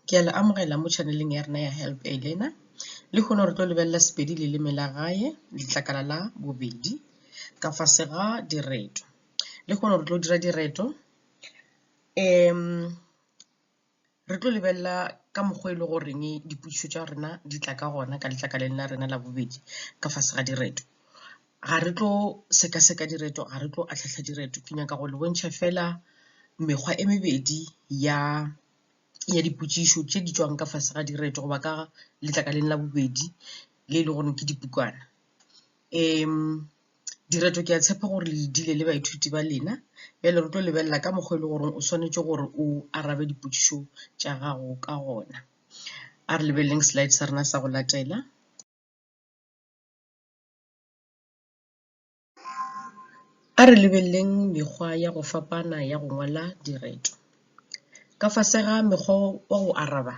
Ke a le amogela mo chaneleng ya rena ya Help a Learner. Le kgone re tlo lebelela Sepedi leleme la gae letlakala la bobedi ka fase ga direto. Le kgone re tlo dira direto um re tlo lebelela ka mokgwa e le goreng dipotšišo tša rena di tla ka gona ka letlakaleng la rena la bobedi ka fase ga direto. ga re tlo sekaseka direto ga re tlo atlhahla direto ke nyaka go le bontšha fela mekgwa e mebedi ya ya dipotšišo tše di tšwang ka fase ga direto goba ka letlakaleng la bobedi le e le gore ke dipukana um direto ke a tshepa gore le dile le baithuti ba lena bjale re tlo lebelela ka mokgwa e le goreng o swanetše gore o arabe dipotšišo tša gago ka gona a re lebeleleng slide sa rena sa go latela A re lebeleleng mekgwa ya go fapana ya go ngwala direto. Ka fase ga mekgwa wa go araba,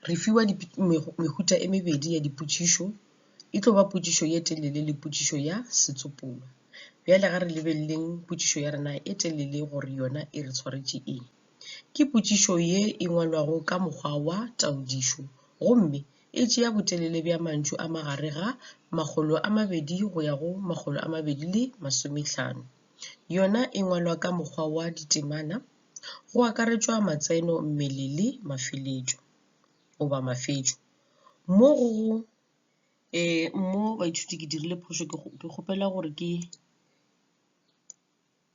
re fiwa mehuta e mebedi ya dipotšišo, e tlo ba potšišo ye telele le potšišo ya setsopolwa. Bjale ga re lebeleleng potšišo ya rena e telele gore yona e re tshwaretše eng. Ke potšišo ye e ngwalwago ka mokgwa wa taodišo gomme e tšea botelele bja mantšu a magare ga makgolo a mabedi go ya go makgolo a mabedi le masomehlano. Yona e ngwalwa ka mokgwa wa ditemana, go akaretšwa matseno, mmele le mafeletšo goba mafetšo. Mo go go mo baithuti ke dirile phošo ke kgopela gore ke.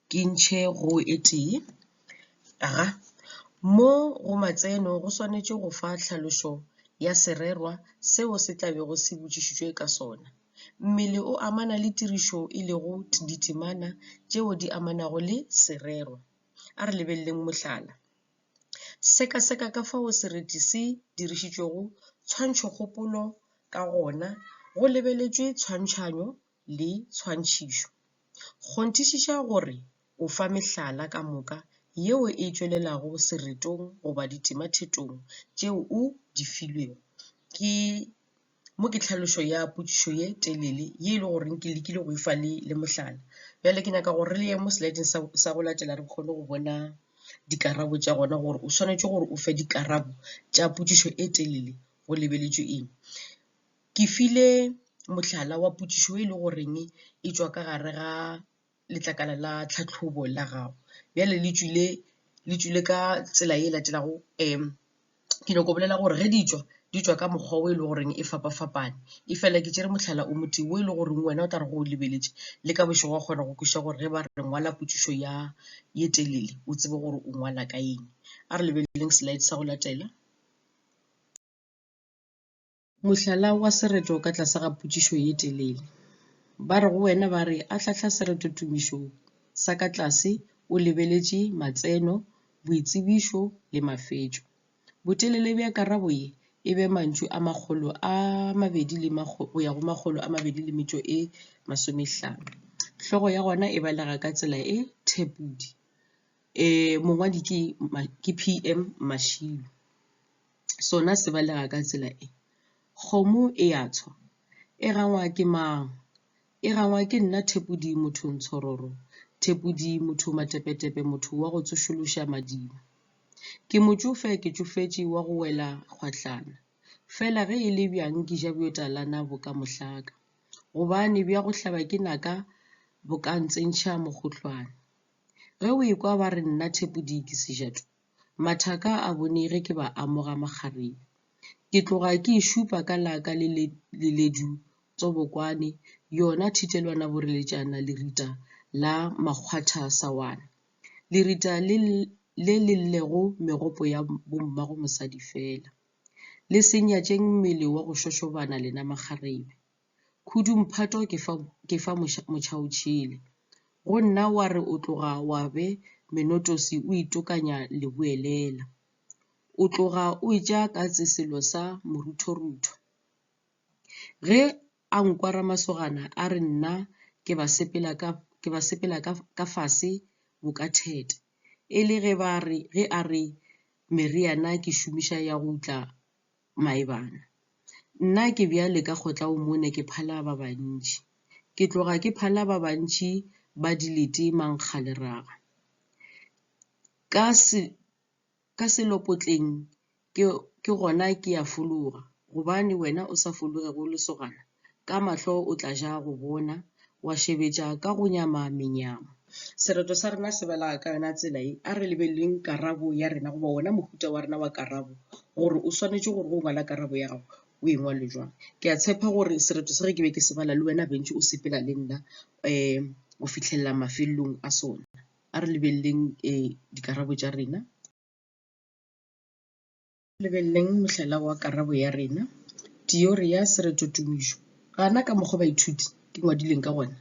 Ke ntšhe go e tee. Aha. Mo go matseno go swanetše go fa tlhalošo ya sererwa seo se tla bego se botšišitšwe ka sona. Mmele o amana le tirišo e lego ditemana tšeo di amanago le sererwa. A re lebeleleng mohlala. Sekaseka ka fao sereti se dirišitšwego tshwantšhokgopolo ka gona go lebeletšwe tshwantšhanyo le tshwantšhišo. Kgonthišiša gore o fa mehlala ka moka yeo e tšwelelago seretong goba ditemathetong tšeo o di filwego. Ke mo ke tlhalošo ya potšišo ye telele ye e le goreng ke lekile go e fa le le mohlala. Bjale ke nyaka gore re ye mo slideng sa sa go latela re kgone go bona dikarabo tša gona gore o swanetše gore o fe dikarabo tša potšišo e telele go lebeletšwe eng. Ke file mohlala wa potšišo e le goreng e tšwa ka gare ga letlakala la tlhahlobo la gago. Bjale le tšwile le tšwile ka tsela e latelago ke nyako bolela gore ge di tšwa di tšwa ka mokgwa o e le goreng e fapafapane. E fela ke tšere mohlala o motho o e le goreng wena o tla re go lebeletše le ka bošego wa kgona go kwešiša gore ge ba re ngwala potšišo ya e telele o tsebe gore o ngwala ka eng. A re lebeleleng slide sa go latela. Mohlala wa sereto ka tlase ga potšišo ye telele. Ba re go wena ba re ahlahla sereto tumišong sa ka tlase o lebeletše matseno, boitsebišo le mafetšo. Botelele bja karabo ye e be mantšu a makgolo a mabedi le go ya go makgolo a mabedi le metšo e masomehlano. Hlogo ya gona e balega ka tsela e thepodi. Mongwadi ke ke P_M Mashilo. sona se balega ka tsela e, Kgomo e a tshwa, e rangwa ke mang? E rangwa ke nna Thepodi motho ntshororo, Thepodi motho matepetepe motho wa go tsošološa madima. Ke motšofe ke tšofetše wa go wela kgwahlana, fela ge e le bjang ke ja bjotalana bo ka mohlaka, gobane bja go hlaba ke naka bo ka ntsentšha mokgohlwane. Ge o ekwa ba re nna Thepodi ke sejatu, Mathaka a bone ge ke ba amoga makgarebe. Ke tloga ke e šupa ka la ka le le leledu tsobokwane, yona thitelwana boreletšana lerita la makgwatha sawana. Lerita le le le llego megopo ya bommago mosadi fela. Le se nyatšeng mmele wa go šošobana lena makgarebe. Khudumphato ke fa, ke fa moša, mocha o tšhele. Go nna wa re o tloga wa be menotosi o itokanya le boelela. O tloga o etša katse selo sa moruthorutho. Ge a nkwa ramasogana a re nna ke ba sepela ka, ke ba sepela ka, ka fase bo ka theta. E le ge ba re, ge a re meriana ke šomiša ya go tla Maebana. Nna ke bjale ka kgotla o mone ke phala ba bantši. Ke tloga ke phala ba bantši ba dilete mankgaleraga. Ka se, ka selopotleng ke, ke gona ke ya fologa. Gobane wena o sa fologe go lesogana? Ka mahlo o tla ja go bona, wa šebetša ka go nyama menyama. Sereto sa rena se belaga ka yona tsela ye, a re lebeleleng karabo ya rena goba wona mohuta wa rena wa karabo gore o swanetše gore go ngwala karabo ya gago o e ngwale jwang. Ke a tshepa gore sereto se ge ke be ke se bala le wena bentši o sepela le nna go fihlelela mafelelong a sona. A re lebeleleng dikarabo tša rena. Lebeleleng mohlala wa karabo ya rena. Tiori ya seretotumišo. Gana ka mokgwa baithuti ke ngwadileng ka gona.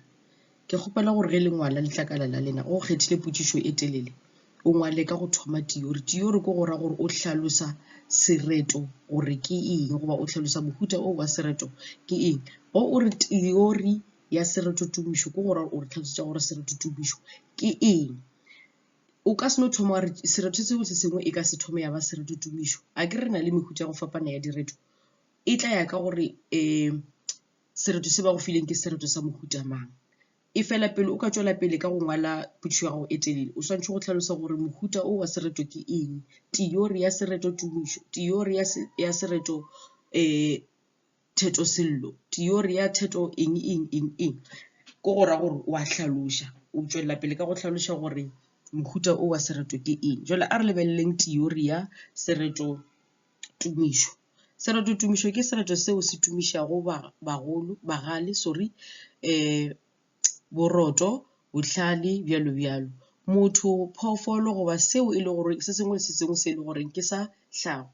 Ke kgopela gore ge le ngwala letlakala la lena ge o kgethile potšišo e telele, o ngwale ka go thoma tiori. Tiori ke go ra gore o hlalosa sereto gore ke eng goba o hlalosa mohuta o wa sereto ke eng. Ge o re tiori ya seretotumišo ke go ra gore o re tlhalosetša gore seretotumišo ke eng. o ka se no thoma wa re sereto seo se sengwe e ka se thome ya ba sereto tumišo a ke re na le mehuta ya go fapana ya direto e tla ya ka gore um sereto se ba go fileng ke sereto sa mohuta mang e fela pele o ka tswela pele ka go ngwala potšišo ya gago e telele o swanetše go tlhalosa gore mohuta o wa sereto ke eng teori ya sereto tumišo teori ya sereto um theto sello theory ya theto eng eng eng eng ko go ra gore wa hlaloša o tšwelela pele ka go hlaloša gore mohuta o wa sereto ke eng jale a re lebeleleng theory ya sereto tumišo sereto tumišo ke sereto seo se tumišago bagolo bagale sorry um boroto, bohlale, bjalo bjalo. Motho, phoofolo goba seo e le gore se sengwe le se sengwe se e le goreng ke sa hlago.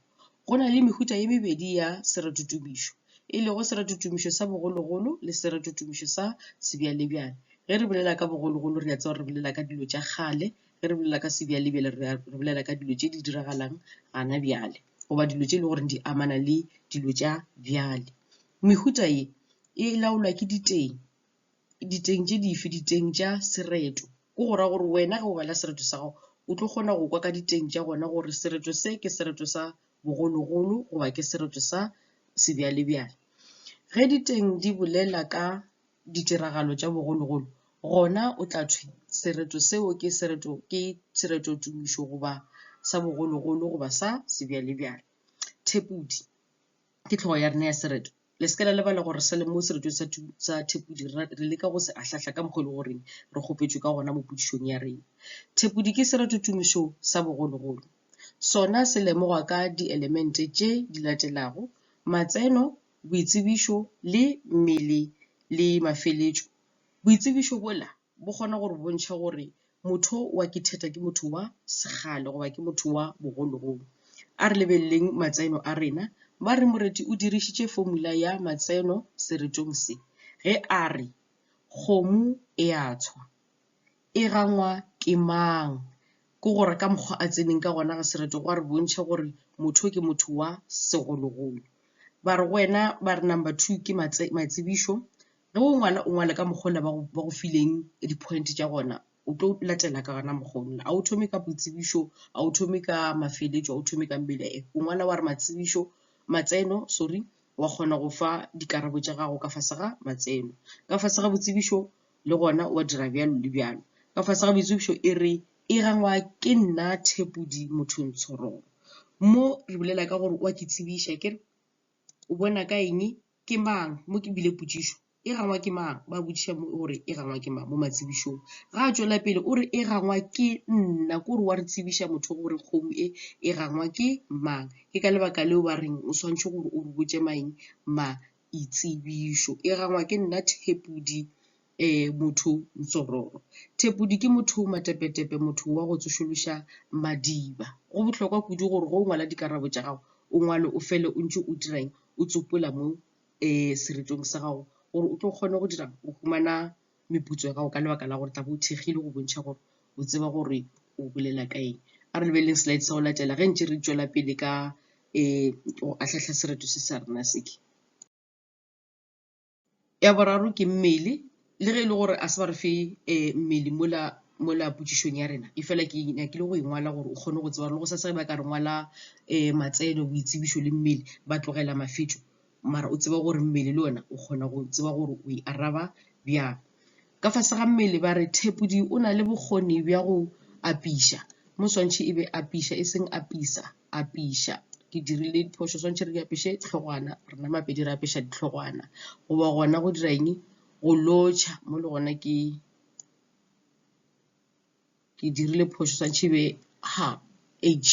Go na le mehuta e mebedi ya seratutumišo, e lego seratutumišo sa bogologolo le seratutumišo sa sebjalebjale. Ge re bolela ka bogologolo re a tseba re bolela ka dilo tša kgale, ge re bolela ka sebjalebjale re bolela ka dilo tše di diragalang gana bjale goba dilo tše e leng gore di amana le dilo tša bjale. Mehuta ye e laolwa ke diteng. Diteng tše dife? Diteng tša sereto. Ke go ra gore wena ge o bala sereto sa gago, o tlo kgona go kwa ka diteng tša gona gore sereto se ke sereto sa bogologolo goba ke sereto sa sebjalebjale. Ge diteng di bolela ka ditiragalo tša bogologolo, gona o tla thwe sereto seo ke sereto ke sereto tumišo goba sa bogologolo goba sa sebjalebjale. Thepodi. ke hlogo ya rena ya sereto. Le se ke la lebala gore sa le mo seretong sa, sa Thepodi re, re leka go se ahlahla ka mokgwa e le goreng re kgopetšwe ka gona mo podišong ya rena. Thepodi ke sereto tumišo sa bogologolo. Sona se lemogwa ka dielemente tše di latelago, matseno, boitsebišo le mmele le mafeletšo. Boitsebišo bola bo kgone gore bontšhe gore motho wa kitheta ke motho wa segale goba ke motho wa bogologolo a re lebeleleng matseno a rena ba re moreti o dirišitše formula ya matseno seretong se ge a re kgomo e a tshwa e gangwa ke mang ke gore ka mokgwa a tseneng ka gona ga sereto go a re bontšhe gore motho ke motho wa segologolo ba re go wena ba re number two ke matsebišo Ge o ngwala o ngwale ka mokgwa ola ba go ba go fileng di point tša gona o tlo latela ka gona mokgwa ola. A o thome ka boitsebišo a o thome ka mafeletšo a o thome ka o ngwala wa re matsebišo matseno sorry wa kgona go fa dikarabo tša gago ka fase ga matseno. Ka fase ga boitsebišo le gona wa dira bjalo le bjalo. Ka fase ga boitsebišo e re e gangwa ke nna Thepodi Mothong Tshorong. Mo re bolela ka gore wa ke tsebiša akere. O bona ka eng? Ke mang? Mo ke bile potšišo. E gangwa ke mang? Ba botšiša mo gore e gangwa ke mang mo matsebišong. Ga a tšwela pele o re e gangwa ke nna. Ko re wa re tsebiša motho gore kgomo e e gangwa ke mang. Ke ka lebaka leo ba reng o swanetše gore o re botše maeng maitsebišo. E gangwa ke nna Thepodi. e motho Ntsororo. Thepodi ke motho matepetepe, motho wa go tsošološa madiba. Go bohlokwa kudu gore go o ngwala dikarabo tša gago o ngwale o fele o ntše o dirang o tsopola mo e seretong sa gago gore o tlo kgone go dirang o humana meputso ya gago ka lebaka la gore tla bo o thekgile go bontšha gore o tseba gore o bolela ka eng. A re lebeleleng slide sa go latela ge ntše re tšwela pele ka e go ahlahla sereto se sa rena seke. Ya boraro ke mmele, le ge e le gore a se ba re fe mmele mola mola potšišong ya rena, e fela ke nyakile go e ngwala gore o kgone go tseba gore le go sasa ge ba ka re ngwala matseno, boitsebišo le mmele ba tlogela mafetšo mara o tseba gore mmele le ona o kgona go tseba gore o e araba bjang. Ka fase ga mmele ba re thepodi o na le bokgoni bja go apiša, mo swantšhe e be apiša e seng apisa, apiša. Ke dirile diphošo, swantšhe re di apiše tlhogwana, rena Mapedi re apiša ditlhogwana. Goba gona go dira eng? Go lotšha, mo le gona ke. ke dirile phošo sa tšhibe ha h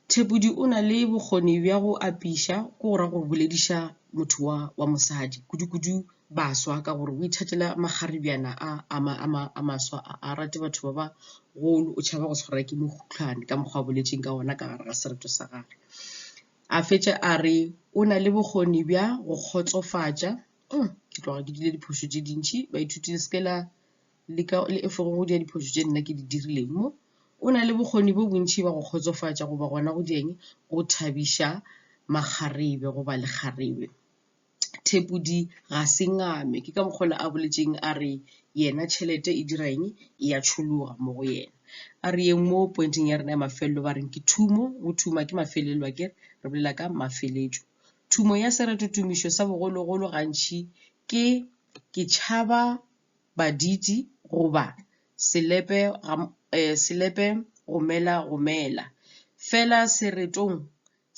thepodi o na le bokgoni bja go apiša ko go ra go bolediša motho wa wa mosadi kudu-kudu baswa ka gore o ithatela makgaribjana a a maswa a rate batho ba ba golo o tšhaba go tshwarwa ke mokhutlwane ka mokgwa a boletseng ka ona ka gare ga sereto sa gage a fetša a re o na le bokgoni bja go kgotsofatša ke tloga ke dile diphošo tše dintšhi baithuti le seke la le ka le efe go di diphoso tše nna ke di dirileng mo o na le bokgoni bo bontši ba go kgotsofatša goba gona go dieng go thabiša makgarebe goba lekgarebe thepodi ga se ngame ke ka mokgwa a boletseng a re yena tšhelete e dira eng e ya tšhologa mo go yena a re yeng mo pointeng ya rena ya mafelelo ba reng ke thumo go thuma ke mafelelo a kere re bolela ka mafeletšo thumo ya seretotumišo sa bogologolo gantši ke ke tšhaba baditi goba selepe selepe romela romela. Fela seretong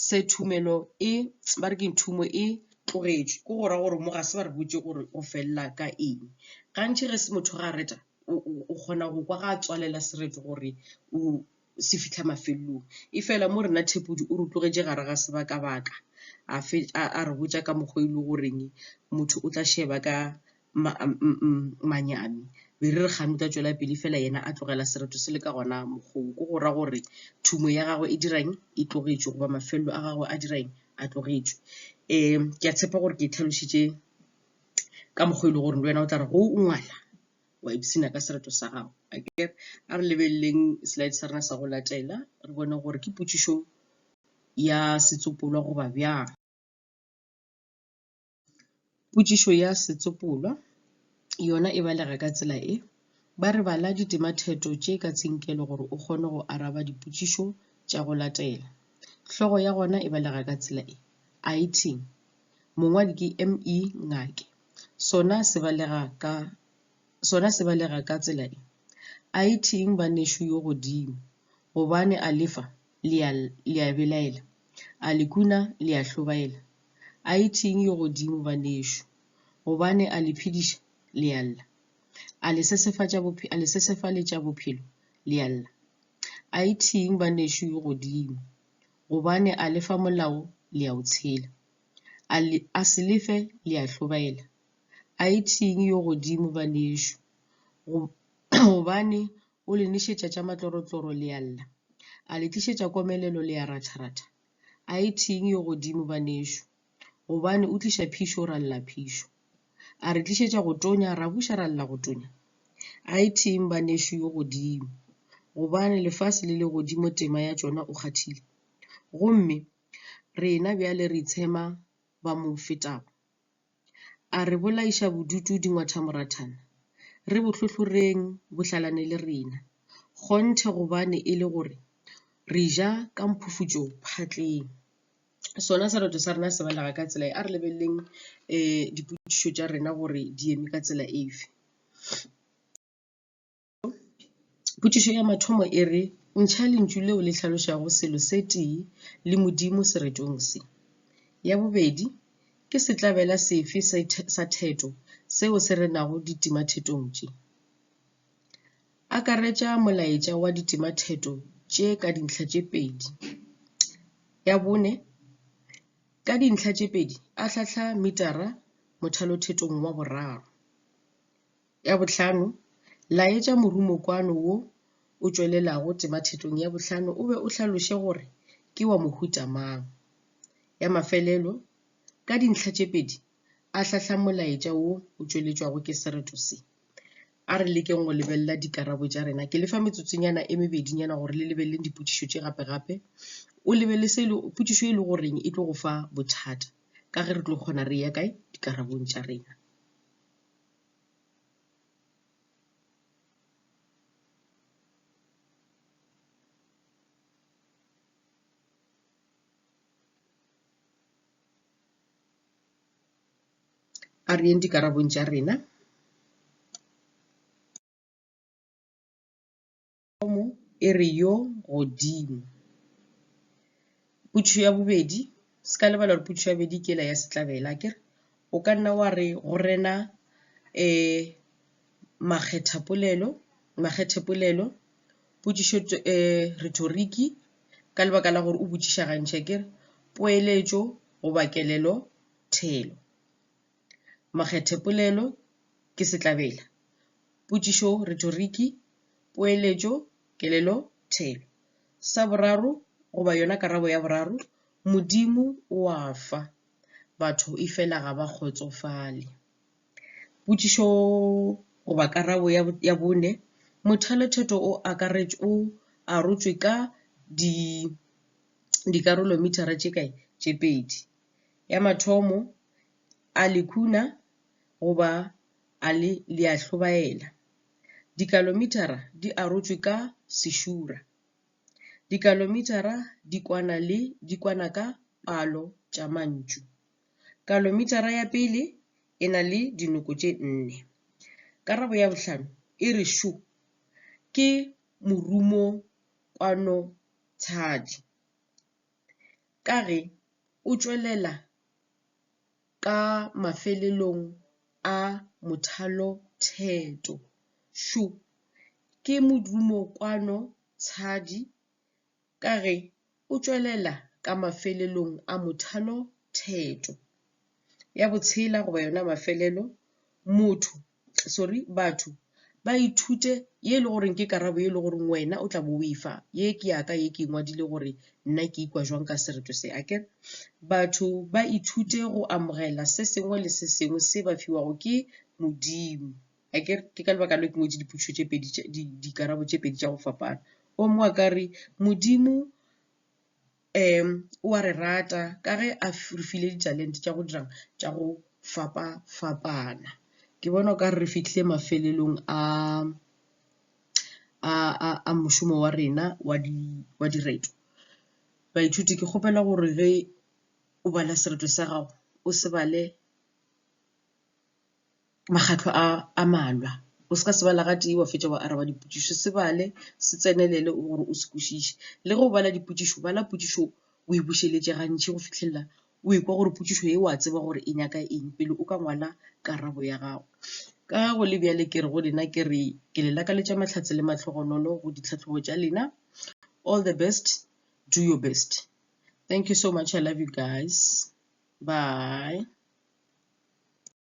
se thumelo e ba re ke thumo e tlogetšwe ko go ra gore mo ga se ba re botse gore o felela ka eng. Gantši ge se motho ga reta o kgona go kwa ga tswalela sereto gore o se fihla mafelelong. Efela mo rena Thepodi o re tlogetše gare ga sebaka-baka a fetša a re botša ka mokgwa e le goreng motho o tla šeba ka manyami. Be re re kgane o tla tšwela pele fela yena a tlogela sereto se le ka gona mokgwa wo. Ke go ra gore thumo ya gagwe e dirang e tlogetšwe goba mafelelo a gagwe a dirang a tlogetšwe. Ke a tshepa gore ke tlhalositše ka mokgwa e le gore le wena o tla re go o ngwala wa ipshina ka sereto sa gago akere a re lebeleleng slide sa rena sa go latela re bone gore ke potšišo ya setsopolwa goba bjang potšišo ya setsopolwa yona e balega ka tsela e ba re bala ditematheto tše ka tsinkelo gore o kgone go araba dipotšišo tša go latela hlogo ya gona e balega ka tsela e item mongwadi ke ME Ngake, sona se balega ka sona se balega ka tsela e, Aithiing banešu yo godimo, gobane a le fa, le a, le a belaela, a le kuna, le a hlobaela, Aithiing yo godimo banešu, gobane a le phediša, le a lla, a le sesefatša bophelo, a le sesefaletša bophelo, le a lla, Aithiing banešu yo godimo. gobane a lefa molao le ya o tshela. A le a se lefe le ya hlobaela. A ithing yo godimo banešo, go gobane o le nešetša tša matlorotloro le ya lla, a le tlišetša komelelo le ya ratharatha. A ithing yo godimo banešo. gobane o tliša phišo o ra lla phišo. A re tlišetša go tonya ra buša ra lla go tonya. A e theng ba nešo yo godimo gobane lefase le le godimo tema ya tšona o kgathile. Gomme rena bjale re itshema ba mo fetago. A re bolaiša bodutu dingwathamorathana, re bo hlohloreng bo hlalane le rena, kgonthe gobane e le gore re ja ka mphufutšo phatleng. sona sereto sa rena se balega ka tsela e a re lebeleleng um dipotšišo tša rena gore di eme ka tsela efe. Potšišo ya mathomo e re, ntšha lentšu leo le hlalošago selo se tee le Modimo seretong se. Ya bobedi, ke setlabela sefe sa theto seo se renago ditimathetong tše? Akaretša molaetša wa ditimatheto tše ka dintlha tše pedi. Ya bone, ka dintlha tše pedi ahlahla mitara mothalothetong wa boraro. Ya bohlano, laetša morumokwano wo o tšwelelago timathetong ya bohlano o be o hlaloše gore ke wa mohuta mang. Ya mafelelo, ka dintlha tše pedi a hlahla molaetša wo o tšweletšwago ke sereto se. A re lekeng go lebelela dikarabo tša rena. Ke le fa metsotsonyana e mebedinyana gore le lebeleleng dipotšišo tše gape-gape. O lebelele se le, potšišo e le goreng e tlo go fa bothata ka ge re tlo kgona re ya kae dikarabong tša rena. A re yeng dikarabong tša rena. Thomo e re yo godimo. Putšo ya bobedi, se ka lebala gore putšo ya bobedi ke la ya setlabela akere o ka nna wa re go rena um makgethapolelo makgethepolelo potšišo um rhetoriki ka lebaka la gore o botšiša gantši a kere poeletšo goba kelelo thelo. Makgethepolelo ke setlabela. Potšišo retoriki, poeletšo, kelelo thelo. Sa boraro goba yona karabo ya boraro, Modimo o a fa. Batho e fela ga ba kgotsofale. Potšišo goba karabo ya bone, Mothaletheto o arotšwe ka dikarolomithara tše kae? Tše pedi. Ya mathomo, a le khuna goba a le le a hlobaela. Dikalomithara di arotšwe ka sešura. Dikalomithara di kwana le di kwana ka palo tša mantšu. Kalomitara ya pele e na le dinoko tše nne. Karabo ya bohlano e re šo ke morumo kwano tshadi ka ge o tšwelela ka mafelelong a mothalo theto. Šo ke morumo kwano tshadi ka ge o tšwelela ka mafelelong a mothalo theto ya botshela goba yona mafelelo motho sorry batho ba ithute ye e le goreng ke karabo ye e le goreng wena o tla bo o e fa ye ke yaka ye ke ngwadile gore nna ke ikwa jwang ka sereto se a kere batho ba ithute go amogela se sengwe le se sengwe se ba fiwago ke modimo a ke ke ka lebaka le ke ngwetše dipotšišo tše pedi dikarabo tše pedi tša go fapana o mongwe a ka re modimo um o a re rata ka ge a re file ditalente tša go dirang tša go fapa fapana ke bona o ka re re fitlhile mafelelong a a a a mošomo wa rena wa di wa direto baithuti ke kgopela gore ge o bala sereto sa gago o se bale makgahlo a a malwa. O se ka se bala gatee wa fetša wa araba dipotšišo. Se bale, se tsenelele gore o se kwešiše. Le ge o bala dipotšišo, bala potšišo o e bušeletše gantši go fihlelela o e kwa gore potšišo e wa tseba gore e nyaka eng pele o ka ngwala karabo ya gago. Ka ge go le bjale ke re go lena ke re ke le lakaletša mahlatse le mahlogonolo go ditlhahlobo tša lena. All the best, do your best. Thank you so much, I love you guys. Bye.